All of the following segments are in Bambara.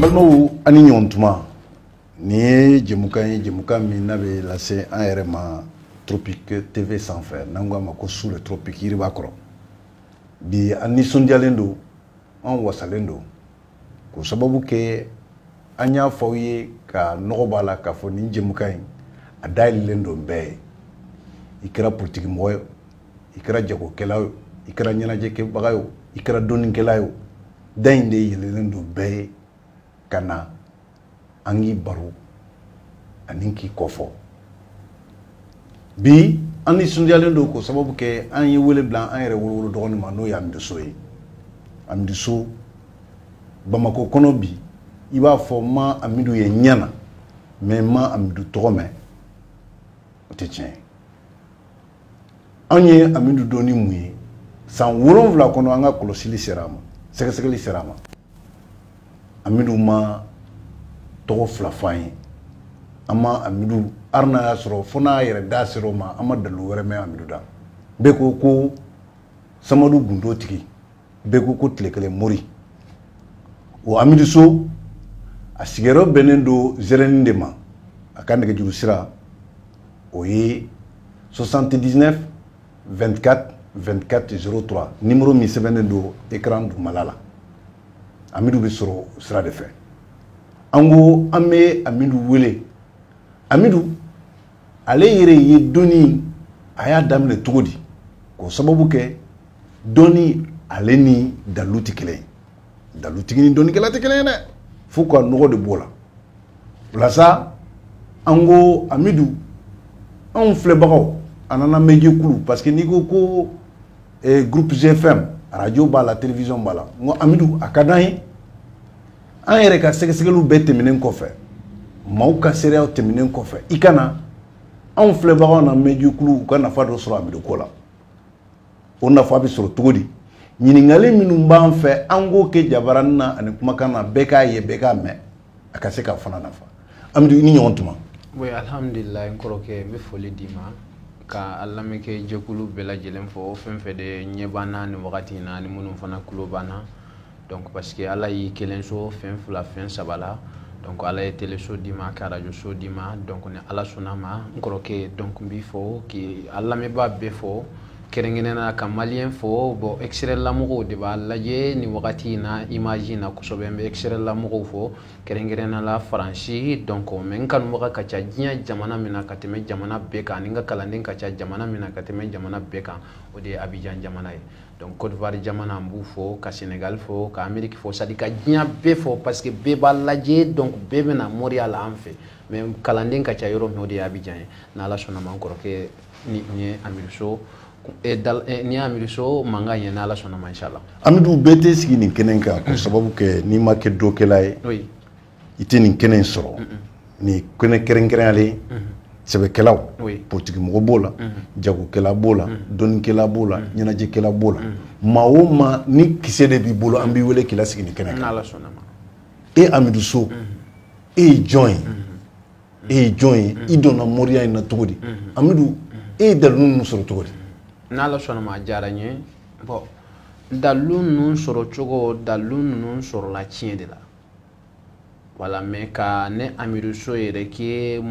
balimaw a ni ɲɔgɔn tuma nin ye jɛmukan ye jɛmukan min n'a bɛ lase an yɛrɛ ma tropique tv sanfɛ n'an k'a ma ko sous le tropique yiriba kɔrɔ bi an nisɔndiyalen don an wasalen don k'o sababu kɛ an y'a fɔ aw ye ka nɔgɔ b'a la k'a fɔ nin jɛmukan in a dayɛlɛlen don bɛɛ ye i kɛra politikimɔgɔ ye i kɛra jagokɛla ye i kɛra ɲɛnajɛkɛbaga ye i kɛra dɔnnikɛla ye da in de yɛlɛlen don bɛɛ ye ka na an k'i baro ani k'i kɔfɔ bi an nisɔndiyalen don k'o sababu kɛ an ye wele bila an yɛrɛ wolowolo dɔgɔnin ma n'o ye amidu so ye amidu so bamakɔ kɔnɔ bi i b'a fɔ n ma amidu ye ɲɛ na mais n ma amidu tɔgɔ mɛn o tɛ tiɲɛ ye anw ye amidu dɔn ni mun ye san wolonwula kɔnɔ an ka kɔlɔsili sera a ma sɛgɛsɛgɛli sera a ma amidu ma tɔgɔ fila fɔ an ye an ma amidu hali n'a y'a sɔrɔ fo n'a yɛrɛ da sera o ma an ma dalilu wɛrɛ mɛn amidu da bɛɛ ko ko samadu gundo tigi bɛɛ ko ko tile kelen mori o amidu so a sigiyɔrɔ bɛnnen don zɛrɛni de ma a ka nɛgɛjuru sira o ye 79 24 24 03 nimero min sɛbɛnnen don ekran dugumala la amidu bɛ sɔrɔ o sira de fɛ an ko an bɛ amidu wele amidu ale yɛrɛ ye dɔnni a y'a daminɛ cogo di k'o sababu kɛ dɔnni ale ni dalilu tɛ kelen ye dalutigi ni dɔnnikɛla tɛ kelen ye dɛ fo ka nɔgɔ de b'o la o la sa an ko amidu anw filɛbagaw a n'an lamɛn jɛkulu parce que n'i ko ko eh, groupe gfm radio b'a la télévision b'a la n ko amidu a ka d'an ye an yɛrɛ ka sɛgɛsɛgɛliw bɛɛ tɛmɛnen kɔfɛ maaw ka seereyaw tɛmɛnen kɔfɛ i ka na anw filɛbagaw lamɛn jɛkulu u ka nafa dɔ sɔrɔ amidu ko la o nafa bɛ sɔrɔ cogo di ɲininkali minnu b'an fɛ an k'o kɛ jabarani na ani kumakan na bɛɛ k'a ye bɛɛ k'a mɛn a ka se k'a fana nafa amidu i ni ɲɔgɔn tuma oui alhamdulilayi n kɔrɔkɛ n bɛ foli d'i ma ka a lamɛnkɛ jɛkulu bɛɛ lajɛlen fo fɛn fɛn de ɲɛ b'an na nin wagati in na ani minnu fana tulo b'an na donc parce que ala y'i kelen sɔn fɛn fila fɛn saba la donc ala ye teleso d'i ma ka arajo so d'i ma donc ni ala sɔnna ma n kɔrɔkɛ donc n b'i fo k'i lamɛnbaa bɛɛ fo kɛrɛnkɛrɛnnenya ka maliyɛn fo bon extérieur lamɔgɔw de b'a lajɛ nin wagati in na image in na kosɛbɛ n bɛ extérieur lamɔgɔw fo kɛrɛnkɛrɛnnenya la faransi donc mais n kanubaga ka ca diɲɛ jamana min na ka tɛmɛ jamana bɛɛ kan ani n ka kalanden ka ca jamana min na ka tɛmɛ jamana bɛɛ kan o de ye abijan jamana ye donc Côte d'Ivoire jamana n b'u fo ka Sénégal fo ka Amérique fo c'est à dire ka diɲɛ bɛɛ fo parce que bɛɛ b'a lajɛ donc bɛɛ bɛna moriya la an fɛ mais kalanden ka ca yɔrɔ min o de ye Abidjan ye n'Ala sɔnna ma n kɔrɔkɛ ni n ye Amidou So eh, eh, ni Amidou So mankan ye n'Ala sɔnna ma inchallah Amidou bɛɛ tɛ sigi nin kɛnɛ kan k'o sababu kɛ n'i ma kɛ dɔkɛla ye i tɛ nin kɛnɛ in sɔrɔ nin kɛnɛ kɛrɛnkɛrɛnyalen sɛbɛkɛlaw politikimɔgɔ b'o la jagokɛla b'o la dɔnnikɛla b'o la ɲɛnajɛkɛla b'o la maa o maa ni kisɛ de b'i bolo an b'i wele k'i lasigi nin kɛnɛ kan e amidu so e ye jɔn ye e ye jɔn ye i donna moriya in na cogo di amidu e ye dalu ninnu sɔrɔ cogo di n'ala sɔnna ma a diyara n ye bon dalu ninnu sɔrɔ cogo dalu ninnu sɔrɔla tiɲɛ de la voilà mais ka ne amidu so yɛrɛ kɛ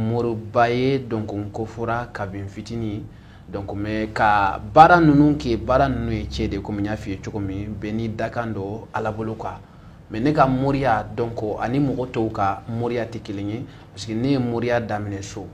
moriba ye donc n kofɔra kabin fitini donc mais ka baara ninnu kɛ baara ninnu ye tiɲɛ de komi n y'a f'i ye cogo min bɛɛ n'i dakan don ala bolo quoi mais ne ka moriya donc ani mɔgɔ tɔw ka moriya tɛ kelen ye parce que ne ye moriya daminɛ so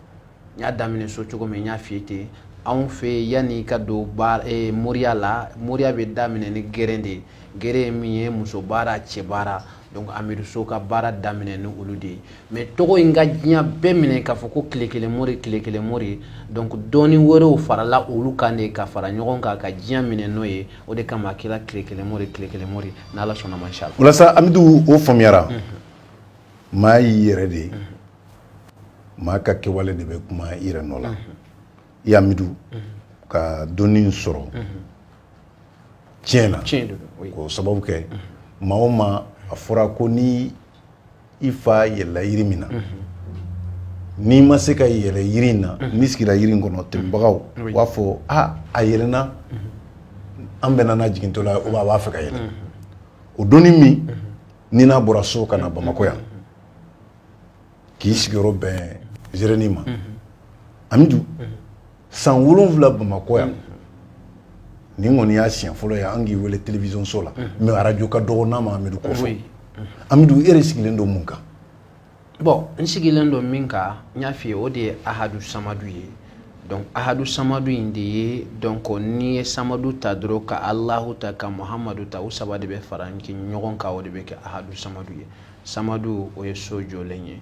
n y'a daminɛ so cogo min n y'a f'i ye ten anw fɛ yanni ka don baara eh, moriya la moriya bɛ daminɛ ni geren de ye geren ye min ye muso baara cɛ baara donc amidu so ka baara daminɛ ni olu de ye mais tɔgɔ in ka diɲɛ bɛɛ minɛ k'a fɔ ko tile kelen mori tile kelen mori donc dɔɔni wɛrɛw farala olu kan de ka fara ɲɔgɔn kan ka diɲɛ minɛ n'o ye o de kama a kɛra tile kelen mori tile kelen mori n'ala sɔnna ma inshallah o la sa amidu o faamuyara maa y'i yɛrɛ de ye maa ka kɛwale de bɛ kuma i yɛrɛ nɔ la i amidu ka dɔnni sɔrɔ tiɲɛ na k'o sababu kɛ maa o maa a fɔra ko ni i fa yɛlɛla yiri min na n'i ma se ka yɛlɛ yiri in na n'i sigira yiri in kɔnɔ tɛmɛbagaw u b'a fɔ a a yɛlɛnna an bɛnna n'a jigintɔ la ou bien a b'a fɛ ka yɛlɛ o dɔnni min ni n'a bɔra so ka na bamakɔ yan k'i sigiyɔrɔ bɛn zereni ma amidu san wolonwula bamakɔ yan nin kɔni y'a siɲɛ fɔlɔ ye an k'i wele télévision so la mais arajo ka dɔgɔ n'a ma amidu kɔfɛ amidu e yɛrɛ sigilen don mun kan bon n sigilen don min kan n y'a f'i ye o de ye ahadu samadu ye donc ahadu samadu in de ye donc n'i ye samadu ta dɔrɔn ka alahu ta ka muhamadu ta u saba de bɛ fara ɲɔgɔn kan o de bɛ kɛ ahadu samadu ye samadu o ye so jɔlen ye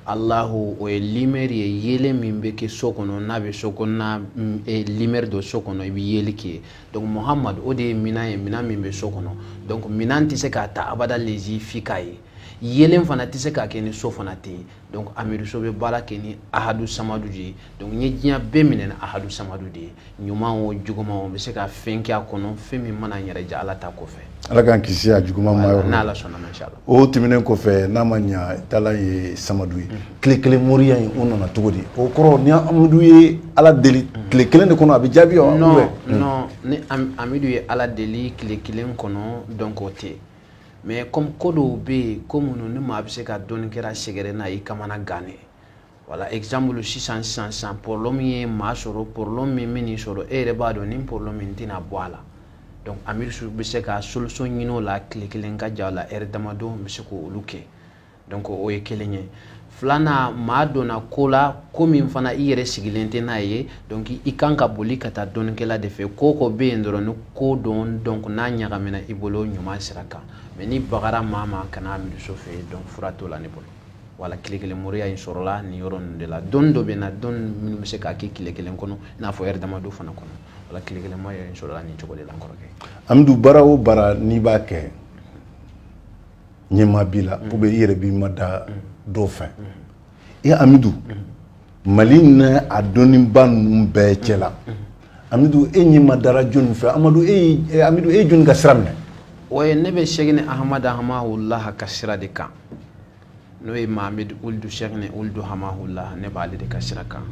alahu o ye lumière ye yeelen min bɛ kɛ so kɔnɔ n'a bɛ so kɔnɔna mm, eh, lumière don so kɔnɔ i bɛ yeli kɛ donc muhamadu o de ye minan ye minan min bɛ so kɔnɔ donc minan tɛ se k'a ta abada lezi f'i k'a ye yeelen fana tɛ se k'a kɛ ni so fana tɛ yen donc amidu so bɛ baara kɛ ni ahadu samadu de ye donc n ye diɲɛ bɛɛ minɛ ni ahadu samadu de ye ɲuman o juguman o bɛ se ka fɛn kɛ a kɔnɔ fɛn min mana n yɛrɛ diya ala ta kɔfɛ ala k'an kisi a juguman ma yɔrɔ n'ala sɔnna ma inshallah o tɛmɛnen kɔfɛ n'a ma ɲa taala ye samadu ye tile kelen moriya in o nana cogo di o kɔrɔ ni amidu ye ala deli tile kelen de kɔnɔ a bɛ jaabi wa non non ni amidu ye ala deli tile kelen kɔnɔ donc o tɛ mais comme ko dɔw bɛ yen ko minnu ni maa bɛ se ka dɔnnikɛla sɛgɛrɛ n'a y'i kamanagan de voilà exemple sisan sisan sisan problème ye maa sɔrɔ problème min bɛ n'i sɔrɔ e yɛrɛ b'a dɔn nin problème in tɛna bɔ a la donc amidu so bɛ se ka solution ɲini o la tile kelen ka jan o la heure damadɔ n bɛ se k'olu kɛ donc o ye kelen ye filanan maa donna ko la ko min fana i yɛrɛ sigilen tɛ n'a ye donc i kan ka boli ka taa dɔnnikɛla de fɛ ko ko bɛ yen dɔrɔn ni ko don donc n'a ɲagamina i bolo ɲuman sira kan mais n'i bagara maa ma ka na amidu so fɛ yen donc fura t'o la ne bolo voilà tile kelen moriya in sɔrɔla nin yɔrɔ ninnu de la dɔnni dɔ bɛ n na dɔnni minnu bɛ se k'a kɛ tile kelen kɔnɔ i n'a fɔ heure damadɔ fana kɔnɔ voilà tile kelen moriya in sɔrɔla nin cogo de la n kɔrɔkɛ amidu baara o baara n'i b'a kɛ ɲɛmaa b'i la ou bien i yɛrɛ b'i mada dɔ fɛ i amidu mali n'a dɔnnibaa ninnu bɛɛ cɛ la amidu e ɲɛ madara jɔnni fɛ amadu e ye amidu e ye jɔnni ka sira minɛ o ye ne bɛ sɛkini ahamadu hamahula ka sira de kan n'o ye mahamadu oludu sɛkini oludu hamahula ne b'ale de ka sira kan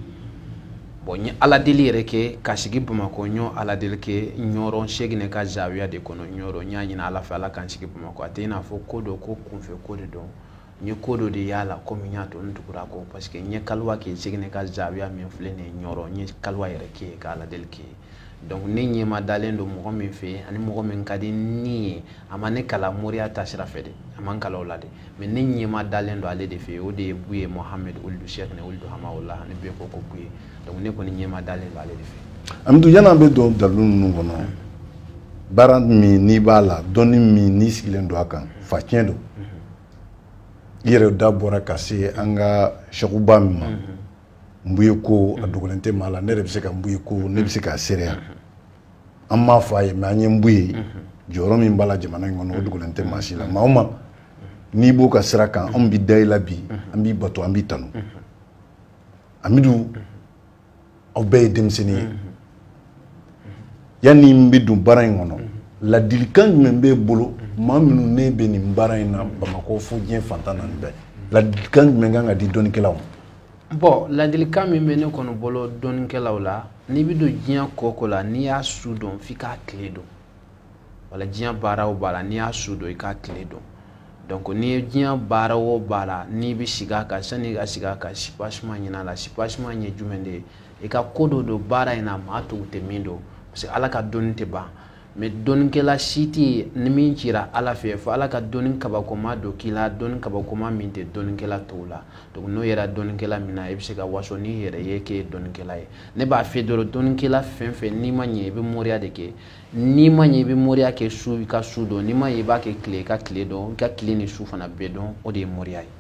bon n ye ala deli yɛrɛ kɛ ka sigi bamakɔ n y'o ala deli kɛ ɲɔrɔn sɛkini ka zawiya de kɔnɔ ɲɔrɔn n y'a ɲini ala fɛ ala ka n sigi bamakɔ a tɛ i n'a fɔ ko dɔ ko kunfɛ ko de don n ye ko dɔ de y'a la comme n y'a to n tugura a kɔ parce que n ye kaliwa kɛ sɛkini ka zawiya min filɛ nin ye ɲɔrɔn n ye kaliwa yɛrɛ kɛ ka ala deli kɛ donc ne ɲɛma dalen don mɔgɔ min fɛ ani mɔgɔ min ka di ne ye a ma ne kalan moriya ta sira fɛ de a ma n kalan o la de mais ne ɲɛma dalen don ale de fɛ o de ye buye mohamed ould sheikhne ould hamaola ne bɛ ko ko buye donc ne kɔni ɲɛma dalen don ale de fɛ amidu yanni an bɛ don dalilu ninnu kɔnɔ baara min n'i b'a la dɔnni min n'i sigilen don a kan faciyɛn don i yɛrɛ da bɔra ka se an ka sɛkuba min ma mbuye ko a dogolen tɛ maa la ne yɛrɛ bɛ se ka mbuye ko ne bɛ se k'a seereya an m'a fɔ a ye mais an ye mbuye jɔyɔrɔ min b'a la jamana in kɔnɔ o dogolen tɛ maa si la maa o maa n'i b'o ka sira kan anw bɛ da i la bi an b'i bato an b'i tanu amidu aw bɛɛ ye denmisɛnnin ye yanni n bɛ don baara in kɔnɔ ladilikan jumɛn b'e bolo maa minnu ne bɛ nin baara in na bamakɔ fo diɲɛ fan tan naani bɛɛ ladilikan jumɛn kan ka di dɔnnikɛlaw ma bon ladilikan min bɛ ne kɔni bolo dɔnnikɛlaw la n'i bɛ don diɲɛ ko o ko la n'i y'a su dɔn f'i k'a tile dɔn wala diɲɛ baara o baara la n'i y'a su dɔn i k'a tile dɔn donc n'i ye diɲɛ baara o baara la n'i bɛ sigi a kan sanni i ka sigi a kan sipasima ɲin'a la sipasima ye jumɛn de ye i ka ko dɔ dɔn baara in na maa tɔw tɛ min dɔn parce que ala ka dɔnni tɛ ban mais dɔnnikɛla si tɛ yen ni min cira ala fɛ fo ala ka dɔnni kabakoma dɔ k'i la dɔnni kabakoma min tɛ dɔnnikɛla tɔw la donc n'o yera dɔnnikɛla min na i bɛ se ka waso n'i yɛrɛ ye k'e ye dɔnnikɛla ye ne b'a fɛ dɔrɔn dɔnnikɛla fɛn o fɛn n'i ma ɲɛ i bɛ moriya de kɛ n'i ma ɲɛ i bɛ moriya kɛ su i ka su dɔn n'i ma ɲɛ i b'a kɛ tile i ka tile dɔn i ka tile ni su fana bɛɛ dɔn o de ye moriya ye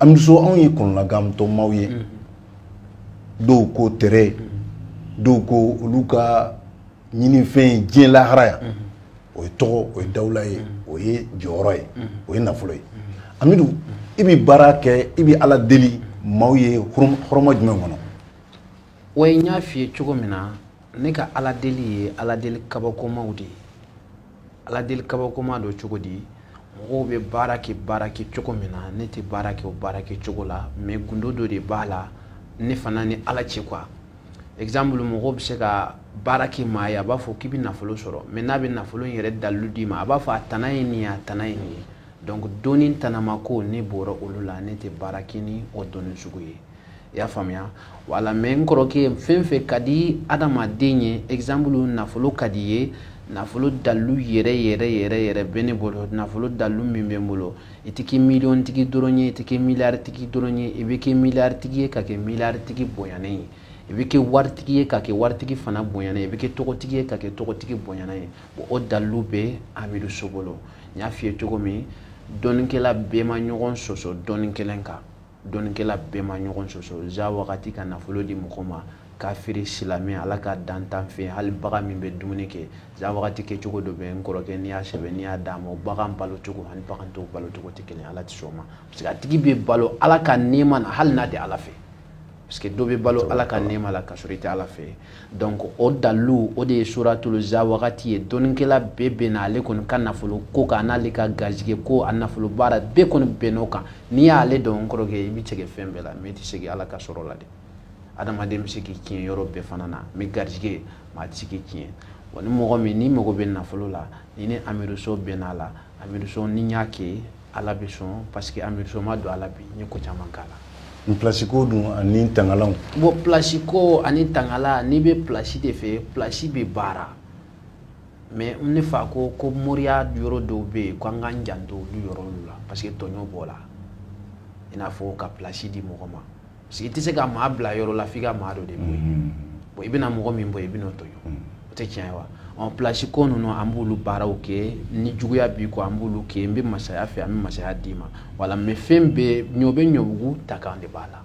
amidu so anw ye kɔnɔlagantɔ maaw ye dɔw ko tɛrɛ dɔw ko olu ka ɲinifɛn ye diɲɛ lahara yan o ye tɔgɔ o ye dawula ye o ye jɔyɔrɔ ye o ye nafolo ye amidu i bɛ baara kɛ i bɛ ala deli maaw ye hɔrɔma jumɛn kɔnɔ wa n y'a f'i ye cogo min na ne ka ala deli ye ala deli kabakomaw de ye ala deli kabakoma don cogo di mɔgɔw bɛ baara kɛ baara kɛ cogo min na ne tɛ baara kɛ o baara kɛ cogo la mais gundo dɔ de b'a la ne fana ni ala cɛ quoi exemple mɔgɔw bɛ se ka baara kɛ maa ye a b'a fɔ k'i bɛ nafolo sɔrɔ mais n'a bɛ nafolo in yɛrɛ dalilu d'i ma a b'a fɔ a tana ye nin ye a tana ye nin ye donc dɔnni tanama ko ne bɔra olu la ne tɛ baara kɛ ni o dɔnni sugu ye i y'a faamuya voilà mais n kɔrɔkɛ fɛn fɛn ka di adamaden ye exemple nafolo ka d'i ye nafolo dalilu yɛrɛ yɛrɛ yɛrɛ yɛrɛ bɛ ne bolo nafolo dalilu min bɛ n bolo i tɛ kɛ miliyɔn tigi dɔrɔn ye i tɛ kɛ miliyari tigi dɔrɔn ye i bɛ kɛ miliyari tigi ye ka kɛ miliyari tigi bonyanen ye i bɛ kɛ waritigi ye ka kɛ waritigi fana bonyanen ye i bɛ kɛ tɔgɔtigi ye ka kɛ tɔgɔtigi bonyanen ye bon o dalilu bɛ amidu so bolo n y'a f'i ye cogo min dɔnnikɛla bɛɛ ma ɲɔgɔn sɔsɔ dɔnni kelen kan dɔnnikɛla bɛɛ ma ɲɔgɔn sɔsɔ za wagati ka nafolo di mɔgɔ ma kafiri silamɛ ala ka dantan fɛ hali bagan min bɛ dumuni kɛ za wagati kɛcogo dɔ bɛ n kɔrɔkɛ n'i y'a sɛbɛn n'i y'a d'a ma o bagan balo cogo ani bagan tɔw balo cogo tɛ kelen ala tɛ sɔn o ma parce que a tigi bɛ balo ala ka nɛɛma na hali n'a tɛ ala fɛ parce que dɔ bɛ balo ala ka nɛɛma la ka sɔrɔ i tɛ ala fɛ donc o dalu o de ye suratulu za wagati ye dɔnnikɛla bɛɛ bɛnna ale kɔni ka nafolo ko kan n'ale ka garijɛgɛ ko a nafolo baara bɛɛ kɔni bɛnn'o kan n'i y'ale dɔn n kɔrɔkɛ i bɛ sɛgɛn fɛn bɛɛ la mais i tɛ sɛgɛn ala ka sɔrɔ la dɛ adamaden bɛ se k'i tiɲɛ yɔrɔ bɛɛ fana na mais garijɛgɛ maa tɛ se k'i tiɲɛ wa ni mɔgɔ min n'i mago bɛ nafolo la ni ne amidu so bɛnn'a la amidu so ni n y'a kɛ ala bɛ sɔn parce que amidu so ma don ala bi n ye ko caman k'a la plasi ko dun ani tangalanw bon plasi ko ani tangalan n'i bɛ plasi de fɛ plasi bɛ baara mais ne fa ko ko moriya yɔrɔ dɔw bɛ yen ko an k'an janto olu yɔrɔw la parce que tɔɲɔ b'o la i n'a fɔ ka plasi di mɔgɔ ma parce que i tɛ se ka maa bila yɔrɔ la f'i ka maa dɔ de bɔ yen bon i bɛna mɔgɔ min bɔ yen i bɛn'o tɔɲɔ o tɛ tiɲɛ ye wa ɔ pilasi ko ninnu an b'olu baaraw kɛ ni juguya b'i kɔ an b'olu kɛ n bɛ masaya fɛ an bɛ masaya d'i ma wala mais fɛn bɛɛ ɲɔ bɛ ɲɔbugu ta kan de b'a la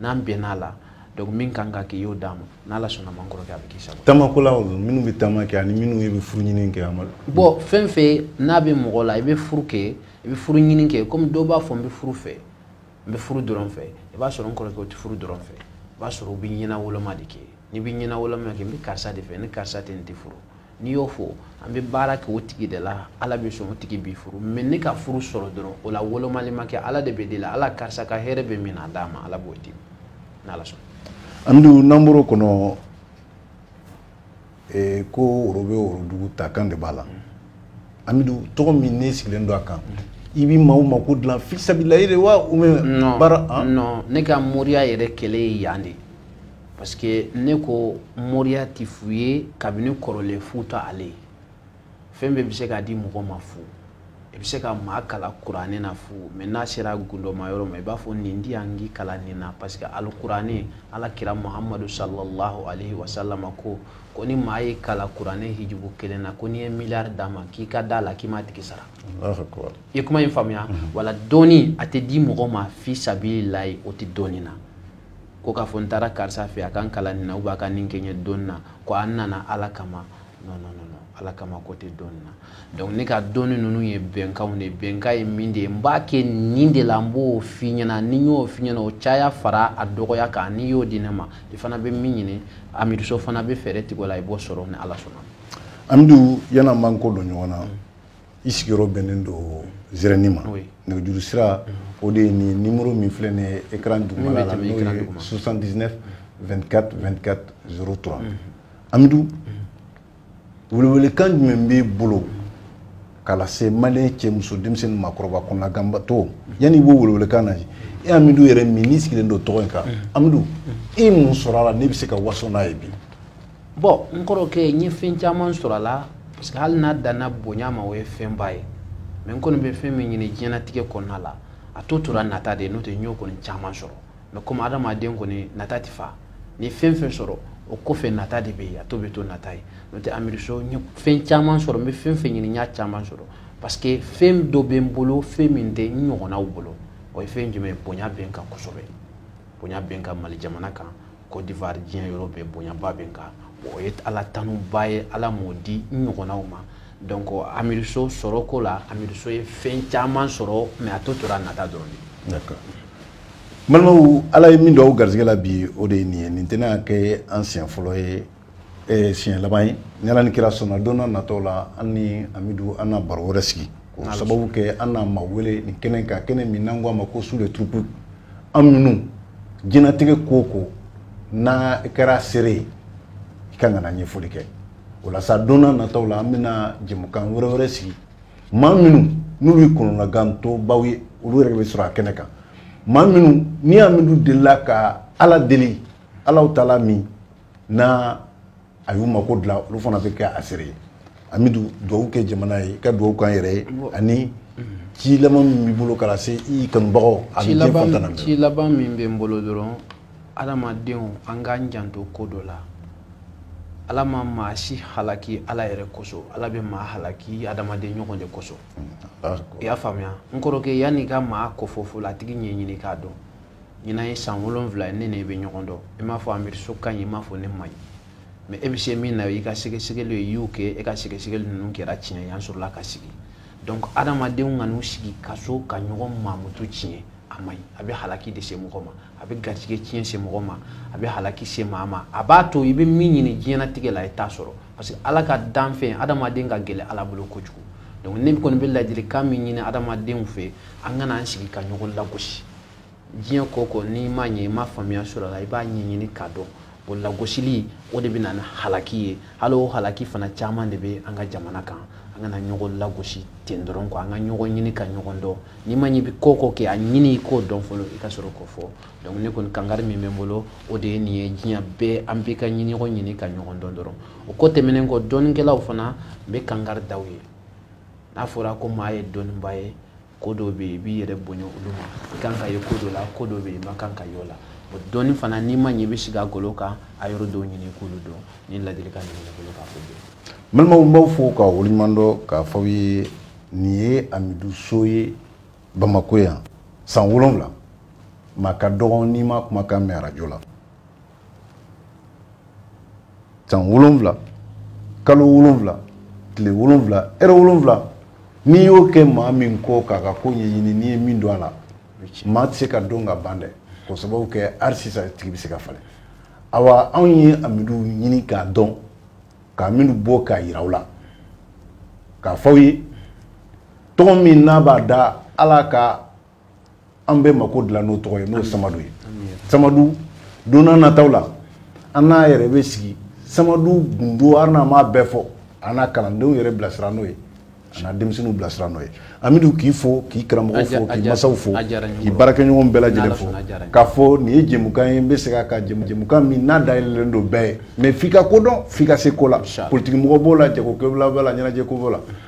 n'an bɛnn'a la donc min kan ka kɛ i y'o d'a ma n'ala sɔnn'a ma n kɔrɔkɛ a bɛ k'i sago taamakɛlaw dun minnu bɛ taama kɛ ani minnu bɛ furu ɲini kɛ amidu bon fɛn fɛn n'a bɛ mɔgɔ la i bɛ furu kɛ i bɛ furu ɲini kɛ komi dɔw b'a fɔ n bɛ furu fɛ n bɛ furu dɔrɔn fɛ i b'a sɔrɔ n kɔrɔkɛ o tɛ furu dɔrɔn fɛ i b'a sɔrɔ u bɛ ɲɛnawoloma de kɛ n'i bɛ ɲɛnawoloma kɛ n bɛ karisa de fɛ ni karisa tɛ n tɛ furu n'i y'o fɔ an bɛ baara kɛ o tigi de la ala bɛ sɔn o tigi b'i furu mais ne ka furu sɔrɔ dɔrɔn o la wolomali ma kɛ ala de bɛ deli ala karisa ka hɛrɛ bɛ min na a d'a ma ala b'o di n'ala sɔnna amidu n'an bɔr'o kɔnɔ ee ko woro bɛ worodugu ta kan de b'a la amidu tɔgɔ min n'i sigilen don a kan i bɛ maaw mako dilan fi sabili layi de wa ou bien baara ah? non ne ka moriya yɛrɛ kɛlɛ ye yan de parce que ne ko moriya ti fu ye kabini kɔrɔlen fu ta ale ye fɛn bɛɛ bɛ se ka di mɔgɔ ma fu i bɛ se ka maa kalan kuranɛ na fu mais n'a sera gundoma yɔrɔ ma i b'a fɔ nin di yan k'i kalan nin na parce que alikuranɛ ala kira muhamadu sallallahu alaihi wa sallam ko ko ni maa y'i kalan kuranɛ hijibu kelen na ko n'i ye miliyari d'a ma k'i ka d'a la k'i m'a tigi sara i ye kuma in faamuya mhm. wala dɔnni a tɛ di mɔgɔ ma fi sabili layi o tɛ dɔnni na ko k'a fɔ n taara karisa fɛ a ka n kalan nin na ou bien a ka nin kɛ n ye dɔnni na ko an nana ala kama non non non ala kama ko tɛ dɔnni na donc ne ka dɔnni ninnu ye bɛnkanw de bɛnkan ye min de ye n b'a kɛ nin de la n b'o f'i ɲɛna ni n y'o f'i ɲɛna o caya fara a dɔgɔya kan n'i y'o di ne ma i fana bɛ min ɲini amidu so fana bɛ fɛɛrɛ tigɛ o la i b'o sɔrɔ ni ala sɔnna amidu yann'an b'an kɔ don ɲɔgɔn na i sigiyɔrɔ bɛnnen don zɛrɛni ma nɛgɛjuru sira o de ye nin numéro min filɛ nin ye écran dugumala la n'o ye 79 24 24 03 amidu welewelekan jumɛn b'i bolo k'a lase maliyɛn cɛ muso denmisɛnnin maakɔrɔba kɔnɔnaganbatɔ yanni i b'o welewelekan na e amidu yɛrɛ min n'i sigilen don tɔgɔ in kan amidu i ye mun sɔrɔ a la ne bɛ se ka waso n'a ye bi bon n kɔrɔkɛ n ye fɛn caman sɔrɔ a la parce que hali n'a danna bonya ma o ye fɛnba ye mais n kɔni bɛ fɛn min ɲini diɲɛnatigɛ kɔnɔna la a to tora nata de ye n'o tɛ n y'o kɔni caman sɔrɔ mais comme adamaden kɔni nata tɛ fa ni fɛn fɛn sɔrɔ o kɔfɛ nata de bɛ yen a to bɛ to nata ye n'o tɛ amidu so n ye fɛn caman sɔrɔ n bɛ fɛn fɛn ɲini n y'a caman sɔrɔ parce que fɛn dɔ bɛ n bolo fɛn min tɛ n ɲɔgɔnnaw bolo o ye fɛn jumɛn ye bonya bɛ n kan kosɛbɛ bonya bɛ n kan mali jamana kan côte d'ivoire diɲɛ yɔrɔ bɛɛ bonyaba bɛ n kan o ye ala tanuba ye ala m'o di n ɲɔgɔnnaw ma donc amidu so sɔrɔ ko la amidu so ye fɛn caman sɔrɔ mais a to tora nata dɔrɔn de d'accord balimaw ala ye min don aw garisɛgɛ la bi o de ye nin ye nin tɛna kɛ an siɲɛ fɔlɔ ye eh, siɲɛ laban ye ni ala ni kira sɔnna don na natɔ la an ni amidu an na baro wɛrɛ sigi k'o sababu kɛ an na maa wele nin kɛnɛ kan kɛnɛ min n'an ko a ma ko su le turupu amidu diɲɛnatigɛ ko o ko n'a kɛra seere ye i ka kan ka na ɲɛfɔli kɛ o la sa don na natɔw la an bɛna jɛmukan wɛrɛ wɛrɛ sigi maa minnu n'olu ye kɔnɔnagantɔbaw ye olu yɛrɛ bɛ sɔrɔ a kɛnɛ kan maa minnu ni amidu delila ka ala deli alahu taala min n'a y'u mako dilan olu fana bɛ kɛ a seere ye amidu dugawu kɛ jamana ye ka dugawu k'an yɛrɛ ye ani ci laban min b'i bolo k'a lase i kanubagaw a bɛ diɲɛ fan tan na bɛɛ ci laban min bɛ n bolo dɔrɔn adamadenw an k'an janto ko dɔ la ala ma maa si halaki ala yɛrɛ kosɔn ala bɛ maa halaki adamaden ɲɔgɔn de kosɔn i y'a faamuya n kɔrɔkɛ yann'i ka maa kofɔ fɔlɔ a tigi ɲɛɲini k'a dɔn ɲinan ye san wolonwula ye ne ni e bɛ ɲɔgɔn dɔn i m'a fɔ amidu so ka ɲi i m'a fɔ ne man ɲi mais e bɛ se min na i ka sɛgɛsɛgɛli ye y'o kɛ e ka sɛgɛsɛgɛli ninnu kɛra tiɲɛ ye an sɔrɔla ka sigi donc adamadenw kan'u sigi ka sɔrɔ ka ɲɔgɔn mankutu tiɲɛ a man ɲi a bɛ halaki de se mɔgɔ ma a bɛ garijɛgɛ tiɲɛ se mɔgɔ ma a bɛ halaki se maa ma a b'a to i bɛ min ɲini diɲɛnatigɛ la i t'a sɔrɔ parce que ala ka danfɛn adamaden ka gɛlɛn ala bolo kojugu donc ne kɔni bɛ ladilikan min ɲini adamadenw fɛ an kana an sigi ka ɲɔgɔn lagosi diɲɛ ko ko n'i ma ɲɛ i ma faamuya sɔrɔ a la i b'a ɲɛɲini k'a dɔn o lagosili o de bɛ na ni halaki ye hali o halaki fana caman de bɛ an ka jamana kan an kana ɲɔgɔn lagosi ten dɔrɔn quoi an ka ɲɔgɔn ɲini ka ɲɔgɔn dɔn n'i ma ɲɛ i bɛ ko ko kɛ a ɲini i k'o dɔn fɔlɔ i ka sɔrɔ k'o fɔ donc ne kɔni kangari min bɛ n bolo o de ye nin ye diɲɛ bɛɛ an bɛɛ ka ɲɔgɔn ɲini ka ɲɔgɔn dɔn dɔrɔn o ko tɛmɛnen kɔ dɔnnikɛlaw fana n bɛ kangari da u ye n'a fɔra ko maa ye dɔnniba ye ko dɔw bɛ yen i b'i yɛrɛ bonya olu ma i kan ka ye ko dɔ la ko dɔw bɛ yen i man kan ka y'o la o dɔnni fana n'i ma ɲɛ i bɛ sigi a golo kan a yɔrɔ dɔw ɲini i k'olu dɔn ni ladilikan nin bɛ n bolo k'a fɔ bi balimaw n b'aw fo k'aw waleɲuman dɔn k'a fɔ aw ye nin ye amidu so ye bamakɔ yan san wolonwula maa ka dɔgɔ n'i m'a kumakan mɛn arajo la san wolonwula kalo wolonwula tile wolonwula ɛrɛ wolonwula n'i y'o kɛ maa min kɔ k'a ka ko ɲɛɲini n'i ye min dɔn a la maa tɛ se ka dɔn ka ban dɛ k'o sababu kɛ hali sisan a tigi bɛ se ka falen awa anw ye amidu ɲini k'a dɔn ka amidu bɔ k'a yira aw la k'a fɔ aw ye tɔgɔ min n'a b'a da ala ka an bɛɛ mako dilan n'o tɔgɔ ye n'o ye samadu ye samadu don n'a nataw la an n'a yɛrɛ bɛ sigi samadu gundo hali n'a m'a bɛɛ fɔ a n'a kalandenw yɛrɛ bilasira n'o ye a n'a denmisɛnninw bilasira n'o ye amidu k'i fo k'i karamɔgɔ fo k'i masaw fo k'i baarakɛɲɔgɔn bɛɛ lajɛlen fo k'a fɔ nin ye jɛmukan ye n bɛ segin a kan jɛmukan min n'a dayɛlɛlen don bɛɛ ye mais f'i ka ko dɔn f'i ka se ko la politikimɔgɔ b'o la jagokɛla b'o la ɲɛnajɛko b'o la